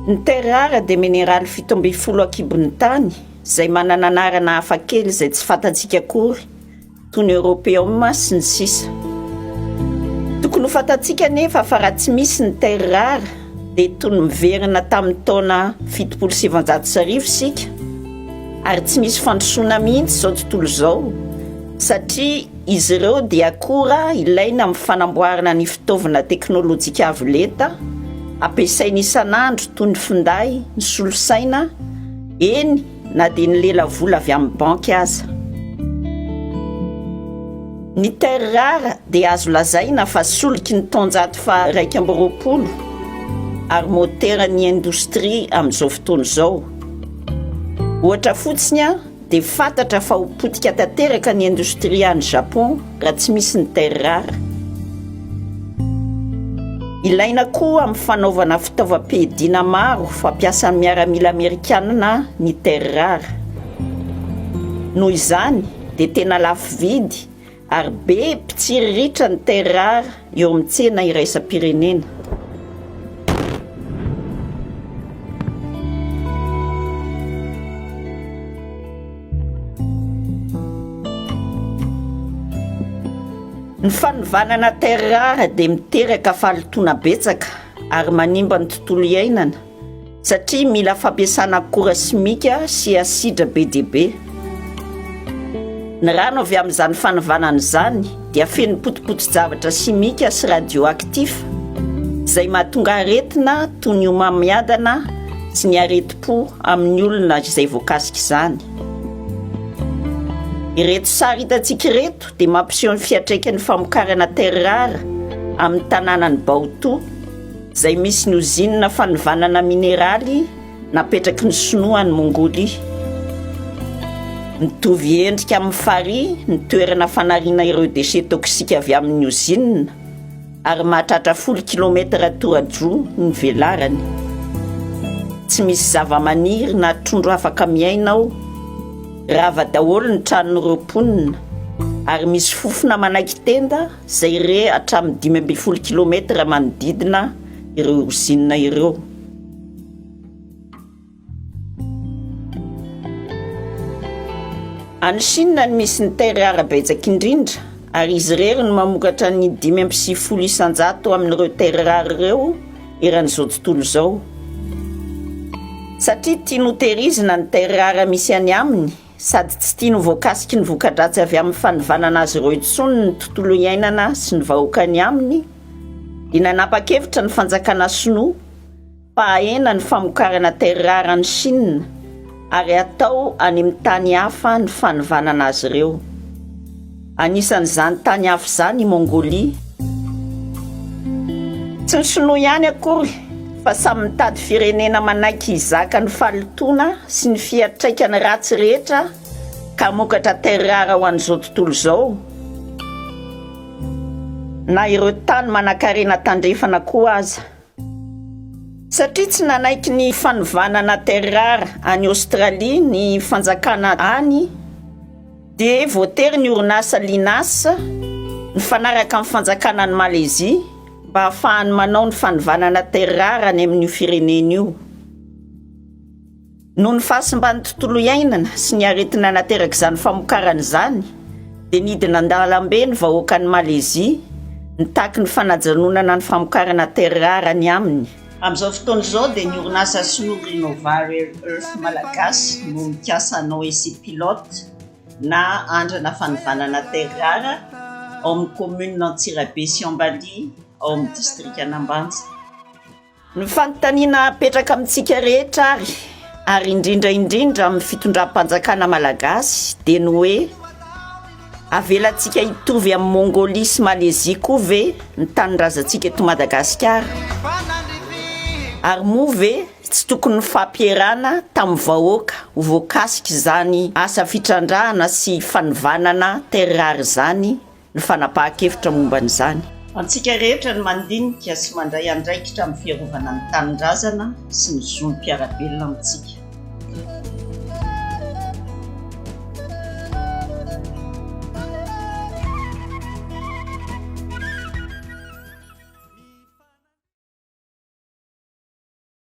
Ny terre rare dia mineraly fito ambin'ny folo an-kibon'ny tany izay manana anarana hafakely izay tsy fantantsika akory. toy ny Europeum sy ny sisa Tokony ho fantatsika anefa fa raha tsy misy ny terres rares dia toy ny miverina tamin'ny taona fitopolo sy sivanjato sy arivo isika ary tsy misy fandrosoana mihitsy izao tontolo izao satria izy ireo dia akora ilaina amin'ny fanamboarana ny fitaovana teknolojika avo lenta ampiasaina isan'andro toy ny finday ny solosaina eny na dia ny lela vola avy amin'ny banky aza. Ny terres rares dia azo lazaina fa soliky ny taonjato faha iraika amby roapolo ary moteran'ny indostria amin'izao fotoana izao. Ohatra fotsiny dia fantatra fa ho potika tanteraka ny indostria any Japon raha tsy misy ny terrar. Ilaina koa amin'ny fanaovana fitaovam-piadiana maro fampiasan'ny miaramila amerikanina ny terrar. Noho izany dia tena lafo vidy ary be mpitsiriritra ny terrar eo amin'ny tsena iraisam-pirenena. Ny fanovanana terres rares dia miteraka fahalotoana betsaka ary manimba ny tontolo iainana satria mila fampiasana akora simika sy asidra be dia be. Ny rano avy amin'izany fanivànana izany dia feno potipoti-javatra simika sy radioactif izay mahatonga aretina toy ny homamiadana sy ny aretim-po amin'ny olona izay voakasika izany. Ireto sary hitantsika ireto dia mampiseho ny fiantraikan'ny famokarana terre rare amin'ny tanànan'i Baotou. izay misy ny ozinina fanovanana mineraly napetraky ny Sinoa any Mongolia. Mitovy endrika amin'ny farihy ny toerana fanariana ireo déchets toxiques avy amin'ny ozinina ary mahatratra folo kilometatra toradroa ny velarany. Tsy misy zavamaniry na trondro afaka miaina ao. Rava daholo ny tranon'ireo mponina ary misy fofona manaiky tenda izay re hatramin'ny dimy ambin'ny folo kilometatra manodidina ireo ozinina ireo. Any Chine no misy ny terre rare betsaka indrindra ary izy irery no mamokatra ny dimy amby sivifolo isan-jato amin'ireo terre rare ireo eran'izao tontolo izao. Satria tiany hotehirizina ny terre rare misy any aminy, sady tsy tiany ho voakasiky ny voka-dratsy avy amin'ny fanivanana azy ireo intsony ny tontolo iainana sy ny vahoaka any aminy, dia nanapa-kevitra ny fanjakana sinoa fa hahena ny famokarana terrare any Chine ary hatao any amin'ny tany hafa ny fanivanana azy ireo. Anisan'izany tany hafa izany i Mongolia. Tsy ny Shinoa ihany akory fa samy mitady firenena manaiky hizaka ny fahalotoana sy ny fiantraikany ratsy rehetra ka hamokatra terres rares ho an'izao tontolo izao na ireo tany manankarena tandrefana koa aza. Satria tsy nanaiky ny fanovana na terrara any Aostralia ny fanjakana any dia voatery ny orinasa Linas mifanaraka amin'ny fanjakana any Malezia mba hahafahany manao ny fanovana na terrara any amin'io firenena io. Noho ny fahasimban'ny tontolo iainana sy ny aretina naterak'izany famokarana izany, dia nidina an-dalambe ny vahoakan'i Malezia, nitaky ny fanajanonana ny famokarana terres rares any aminy. Amin'izao fotoana izao dia ny orinasa sinoa Renova Rare Earth Malagasy no mikasa hanao essai pilote na andrana fanivanana terres rares ao amin'ny kaominina Antsirabe sy Ambalihy ao amin'ny distrikan'Ambanja. Ny fanontaniana apetraka amintsika rehetra ary, ary indrindra indrindra amin'ny fitondram-panjakana malagasy dia ny hoe, avelantsika hitovy amin'i Mongolia sy Malezia koa ve ny tanindrazantsika eto Madagasikara? Ary moa ve tsy tokony nifampierana tamin'ny vahoaka ho voakasik'izany asa fitrandrahana sy fanivànana terrare izany ny fanapahan-kevitra momba an'izany. Antsika rehetra ny mandinika sy mandray andraikitra amin'ny fiarovana ny tanindrazana sy ny zon'ny mpiara-belona amintsika.